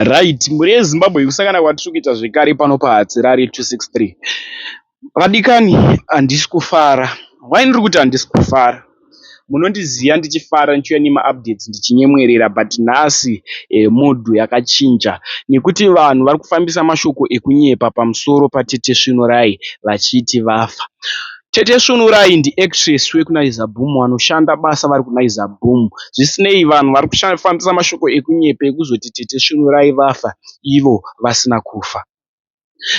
Right mhuri yeZimbabwe kusangana kwatiri kuita zvekare pano paHatirari 263 vadikani handisi kufara why ndiri kuti handisi kufara munondiziva ndichifara ndichiuya nemaupdates ndichinyemwerera but nhasi eh, mood yakachinja nekuti vanhu vari kufambisa mashoko ekunyepa pamusoro patete Svinorai vachiti vafa Tete Svunurai ndi actress wekuNaiza Boom vanoshanda basa vari kuNaiza Boom. Zvisinei, vanhu vari kufambisa mashoko ekunyepa ekuzoti Tete Svunurai vafa ivo vasina kufa.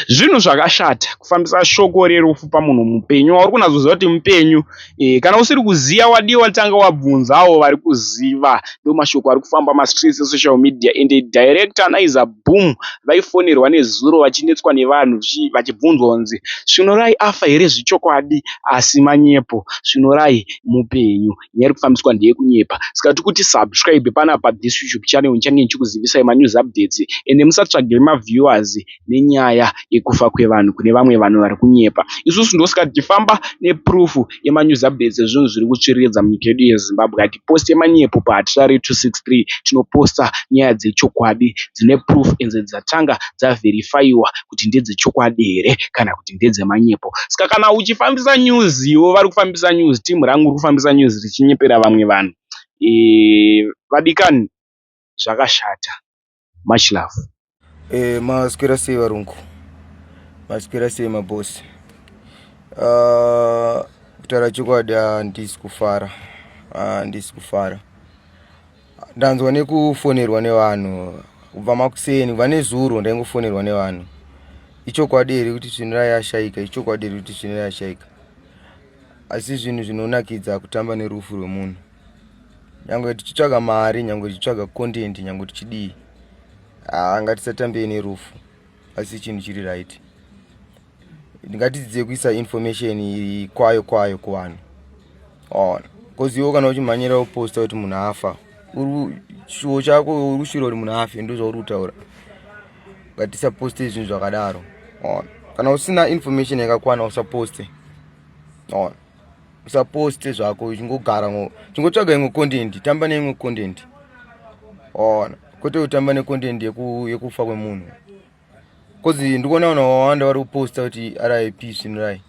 Zvinhu zvakashata kufambisa shoko rerufu pamunhu mupenyu wauri kunatsoziva kuti mupenyu. E, kana usiri kuziva wadii watanga wabvunzawo vari kuziva. Ndomashoko ari kufamba mastreets esocial media ende director Naiza boom vaifonerwa nezuro vachinetswa nevanhu vachibvunzwa kunzi Svinorai afa here zvechokwadi asi manyepo Svinorai mupenyu nyaya iri kufambiswa ndeyekunyepa saka tiri kuti subscribe panapa this YouTube channel ndichange ndichikuzivisai manews updates ende musatsvage maviewers nenyaya yekufa kwevanhu kune vamwe vanhu vari kunyepa isusu ndosaka tichifamba neproof yema news updates ezvinhu zviri kutsviriridza munyika yedu yeZimbabwe. Hatiposte manyepo paHatirari 263, tinoposta nyaya dzechokwadi dzine proof enze dzatanga dzaverifyiwa kuti ndedzechokwadi here kana kuti ndedzemanyepo. Saka kana uchifambisa news ivo vari kufambisa news, team rangu riri kufambisa news richinyepera vamwe vanhu, vadikani zvakashata. much love eh maswera sei varungu maswera sei maboss uh, kutaura chokwadi handisi kufara handisi kufara ndanzwa nekufonerwa nevanhu kubva makuseni kubva nezuro ndaingofonerwa nevanhu ichokwadi here kuti zvinhu rayashayika ichokwadi here kuti zvinhu rayashayika asi zvinhu zvinonakidza kutamba nerufu rwemunhu nyange tichitsvaga mari nyange tichitsvaga content nyange tichidii haa ngatisatambei nerufu asi chinhu chiri right ndingatidzidzei kuisa information iri kwayo kwayo kuvanhu on bcause iwo kana uchimhanyira uposta kuti munhu afa chishuwo chako uri kushira kuti munhu afe ndo zvauri kutaura ngatisaposte zvinhu zvakadaro on kana usina information yakakwana usaposte on usaposte zvako uchingogara ngo chingotsvaga imwe content tamba neimwe content ona kwete kutamba necontent yeku, yekufa kwemunhu bcause ndikuona vanhu vawanda vari kuposta kuti rip svinurai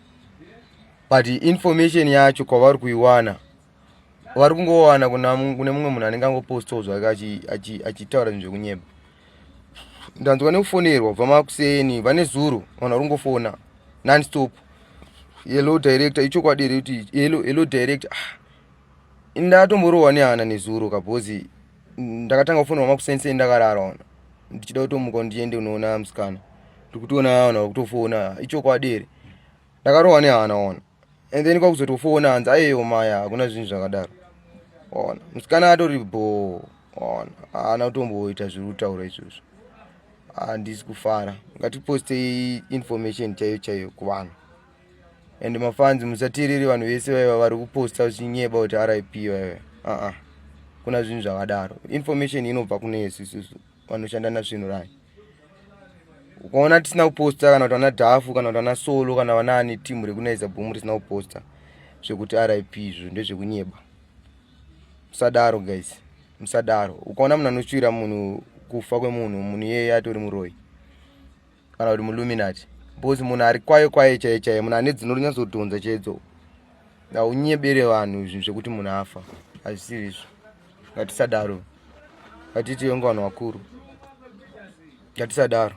but information yacho kwavari kuiwana vari kungowana kune mumwe munhu anenge angopostawo zvake achitaura zvinhu zvekunyeba ndanzwa nekufonerwa kubva makuseni vane zuro vanhu vari kungofona nonstop hello director ichokwadi here kuti hello hello director ah, ndatomborohwa nehana nezuro kabhozi ndakatanga kufonerwa makuseni sei ndakarara ona ndichida kutomuka ndiende unoona musikana ndiri kutoona vana vakutofona ichokwadi here ndakarohwa nehana ona and then kwakuzotofona hanzi ayeyo maya hakuna zvinhu zvakadaro ona musikana atori bho ona haana kutomboita zviri kutaura izvozvo handisi kufara ngatipostei information chaiyo chaiyo kuvanhu and mafanzi musateereri vanhu vese vaiva vari kuposta vachinyeba kuti rip vaiva aa kuna zvinhu zvakadaro information inobva kune yesu isusu vanoshanda nazvinhu rani ukaona tisina kuposta kana kuti vana dhafu kana kuti vana solo kana vana ani timu rekunaiza bhumu risina kuposta zvekuti rip izvo ndezvekunyeba musadaro guys musadaro ukaona munhu anoshuvira munhu kufa kwemunhu munhu iyeye atori muroyi kana kuti muluminati because munhu ari kwaye kwaye chaiye chaiye munhu ane dzino rinyatsodhonza chaidzo aunyebere vanhu zvinhu zvekuti munhu afa hazvisiri izvo ngatisadaro ngatiti yonge vanhu vakuru ngatisadaro